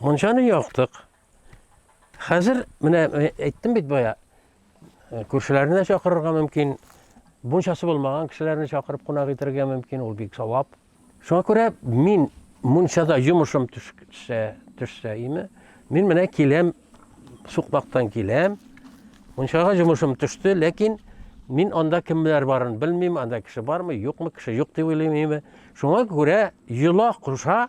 Мунчаны яктык. Хәзер менә э, әйттем бит бая, э, күршеләрне чакырырга мөмкин, мунчасы булмаган кешеләрне чакырып кунак итәргә мөмкин, ул бик савап. Шуңа күрә мин мунчада йомышым төшсә, төшсә име, мин менә киләм, сукмактан киләм. Мунчага йомышым төште, ләкин мин анда кемнәр барын белмим, анда кеше бармы, юкмы, кеше юк дип уйлыйм име. Шуңа күрә йола куша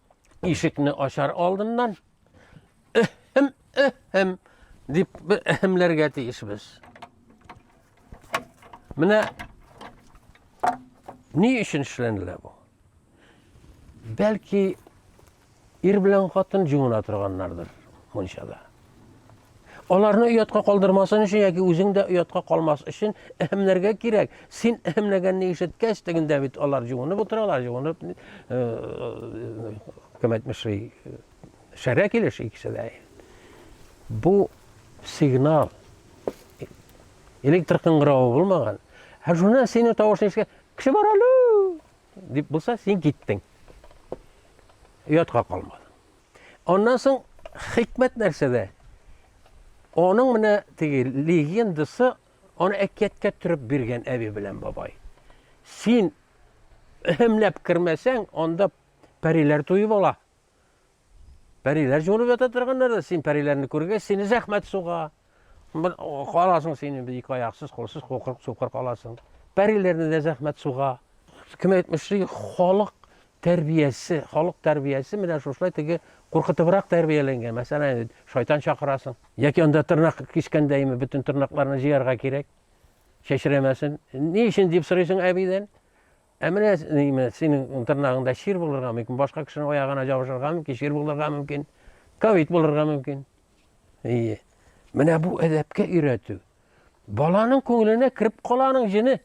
ишекне ачар алдыннан эхем эхем дип бер эхемләргә тиешбез. Менә ни өчен эшләнелә бу? Бәлки ир белән хатын җуына торганнардыр мунчада. Аларны оятка калдырмасын өчен яки үзең дә оятка калмас өчен әһемләргә кирәк. Син әһемләгәнне ишеткәч, тегендә бит алар җуынып утыралар, җуынып кем әйтмешли, шәрә килеш икесе дә. Бу сигнал электр кыңгыравы булмаган. Ә шуны сине тавышны ишеткәч, кеше бар әле! дип булса, син киттең. Оятка калмадың. Аннан соң хикмәт нәрсәдә? Аның менә теге легендасы аны әкияткә төреп биргән әби белән бабай. Син һәмләп кермәсәң, анда пәриләр туеп ала. Пәриләр җонып ята торганнар да, син пәриләрне күргәч, сине зәхмәт суга. Бер каласың син инде ике аяксыз, кулсыз, кукырык, сукыр каласың. Пәриләрне дә зәхмәт суга. Кем әйтмешли, халык тәрбиясе, халык тәрбиясе менә шушылай теге куркытыбрак тәрбияләнгән. Мәсәлән, шайтан чакырасың. Яки анда тырнак кискәндә име бөтен тырнакларны җыярга кирәк. Чәчрәмәсен. Ни өчен дип сорыйсың әбидән. Ә менә ниме, синең тырнагыңда чир булырга мөмкин, башка кешенең аягына ябышырга мөмкин, чир булырга мөмкин, ковид булырга мөмкин. Ие. Менә бу әдәпкә өйрәтү. Баланың күңеленә кереп каланың җене.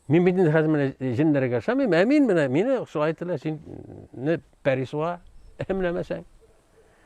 Мин бит инде хәзер менә җеннәргә ошамыйм, ә мин менә мине шулай ителә, син не пәрисуа әмләмәсәң.